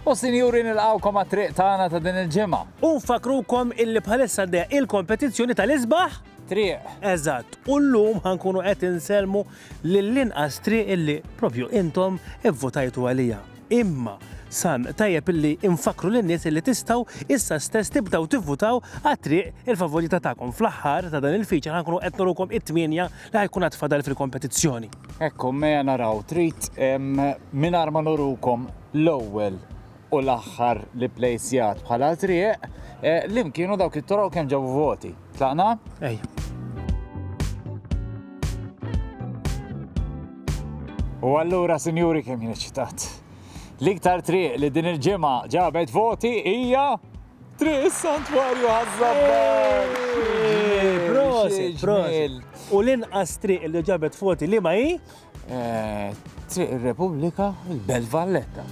U sinjuri nilqgħukom għat-triq tagħna ta' din il-ġimgħa. U nfakkrukom illi bħalissa għaddejja il-kompetizzjoni tal-isbaħ? Triq. Eżatt, u llum ħa nkunu qed insellmu lill-inqas triq illi propju intom ivvutajtu għaliha. Imma san tajjeb illi nfakkru lin-nies illi tistgħu issa stess tibdew tivvutaw għat-triq il-favorita tagħkom. Fl-aħħar ta' dan il-feature ħa nkunu qed nurukom it-tmienja li ħa jkun għad fadal fil-kompetizzjoni. Hekk hu mea naraw trid mingħajr ma nurukom l-ewwel u l-aħħar li plejsjat bħala triq li mkienu dawk it-toroq u kemm ġabu voti. Tlaqna? Ejja. U allura, sinjuri, kemm jien ċitat. L-iktar triq li din il-ġimgħa ġabet voti hija Triq is-Santwarju ħaż-Żabbar! Eeeh! Prosit, prosit! U l-inqas triq li ġabet voti liema hi? Triq ir-Repubblika, il-Belt Valletta.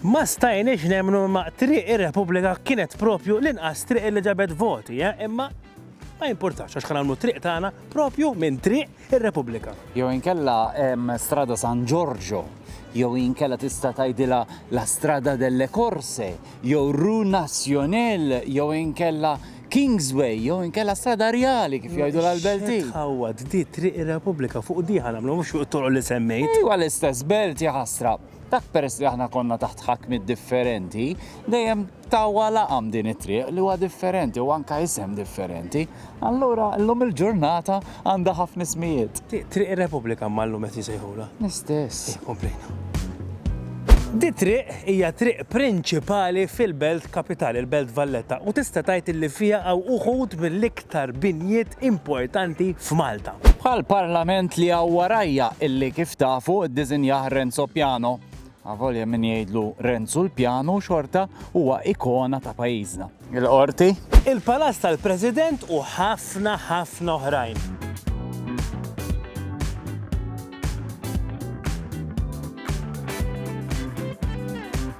Ma stajniex nemmnu imma Triq ir-Repubblika kienet proprju l-inqas triq li ġabet voti, eh? Imma ma jimpurtax għax ħa nagħmlu t-triq tagħna proprju minn triq ir-Repubblika. Jew inkella Strada San Giorgio, jew inkella tista' tgħidilha La Strada delle Corse, jew Rue National, jew inkella Kingsway, jew inkella Strada Rjali kif jgħidu l-Belti. Tħawwad di triq ir-Repubblika fuq di ħanamlu mhux fuq it-toroq li semmejt. Iwa l-istess belt jaħasra. Dak peress li aħna konna taħt ħakmiet differenti, dejjem tawa laqam din it-triq li huwa differenti u anka isem differenti. Allura llum il-ġurnata għandha ħafna ismijiet. Triq ir-Repubblika ma llum qed jisejħula. L-istess. Eh, komplejna. Di triq hija triq prinċipali fil-belt kapitali, il-belt Valletta, u tista' tgħid li fiha hawn uħud mill-iktar tal-aktar binjiet importanti f'Malta. Bħall-Parlament li hawn warajja illi kif tafu ddisinjah Renzo Piano, avolja min jgħidlu Renzu l-Pjanu xorta huwa ikona ta' pajjiżna. Il-Qorti. Il-Palazz tal-President u ħafna ħafna oħrajn.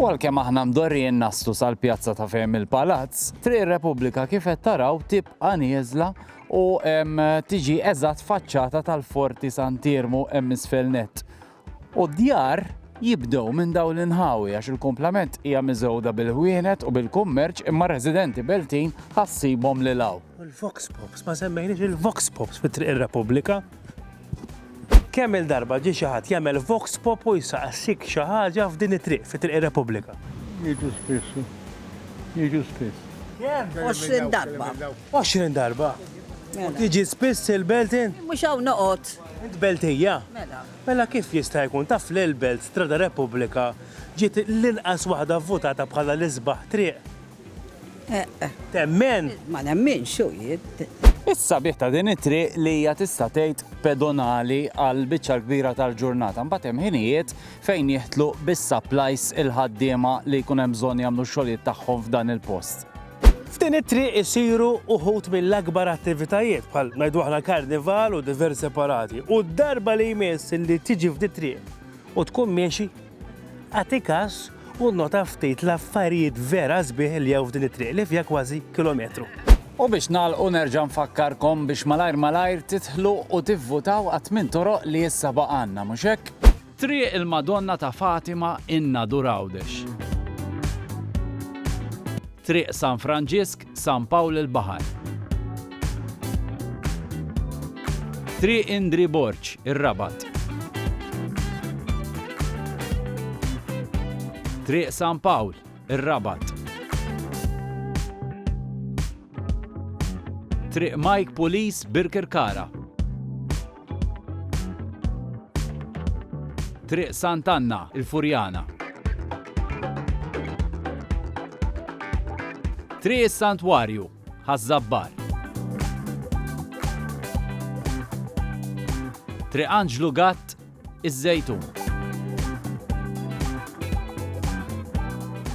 U għalkemm aħna mdorrijin naslu sal-pjazza ta' fejn il-palazz, Triq Repubblika kif qed taraw tibqa' nieżla u tiġi eżatt faċċata tal-Forti Sant'Iermu hemm isfel nett. U d-djar jibdew minn dawn l-inħawi għax il-kumplament hija miżgħuda bil-ħwienet u bil-kummerċ imma r-residenti Beltin ħa ssibhom lil hawn. U l-Vox Pops, ma semmejniex il-Vox Pops fi Triq ir-Repubblika. Kemm il-darba ġie xi ħadd jagħmel Vox Pop u jsaqsik xi ħaġa f'din it-triq fi Triq ir-Repubblika. Jiġu spiss. Jiġu spiss. Kemm? 20 darba. 20 darba. Mela. Tiġi spiss il-Beltin? Mhux hawn noqgħod. Int Beltija? Mela. Mela kif jista' jkun taf li l-Belt Strada Repubblika ġiet l-inqas waħda vvutata bħala l-isbaħ triq? Temmen? Ma nemminx, u jien. Is-sabiħ ta' din it-triq li hija tista' tgħid pedonali għal biċċa l-kbira tal-ġurnata. Mbagħad hemm ħinijiet fejn jiħtlu bis-supplies il-ħaddiema li jkun hemm bżonn jagħmlu x-xogħlijiet tagħhom f'dan il-post. F'din it-triq isiru uħud mill-akbar attivitajiet bħal ngħidu aħna l-karnival u diversi parati. U d-darba li jmiss li tiġi f'dit-triq u tkun miexi Agħti każ u nnota ftit l-affarijiet vera sbieħ li hawn f'din it-triq li fiha kważi kilometru. U biex nagħlqu nerġa' nfakkarkom biex malajr malajr tidħlu u tivvutaw għat-tmien toroq li issa baqgħalna, mhux hekk? Triq il-Madonna ta' Fatima in Nadur Għawdex. Triq San Franġisk San Pawl il-Baħar. Triq Indri Borg, ir-Rabat. Triq San Pawl, ir-Rabat. Triq Mike Pulis, Birkirkara. Triq Sant' Anna, il-Furjana. Triq is-Santwarju, Ħaż-Żabbar. Triq Anġlu Gatt, iż-Żejtun.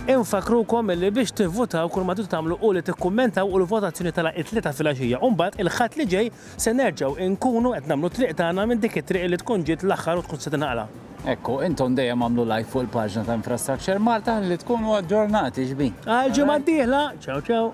Infakkrukom li biex tivvutaw kull ma tridu tagħmlu hu li tikkummentaw u l-votazzjoni telgħa t-Tlieta filgħaxija u mbagħad il-Ħadd li ġej se nerġgħu inkunu qed nagħmlu t-triq tagħna minn dik it-triq li tkun ġiet l-aħħar u tkun se tinħala. Ekku, intom dejjem agħmlu like fuq il-paġna ta' Infrastructure Malta ħalli tkunu aġġornati, x'bi? Għall-ġimgħa d-dieħla, ciao ciao!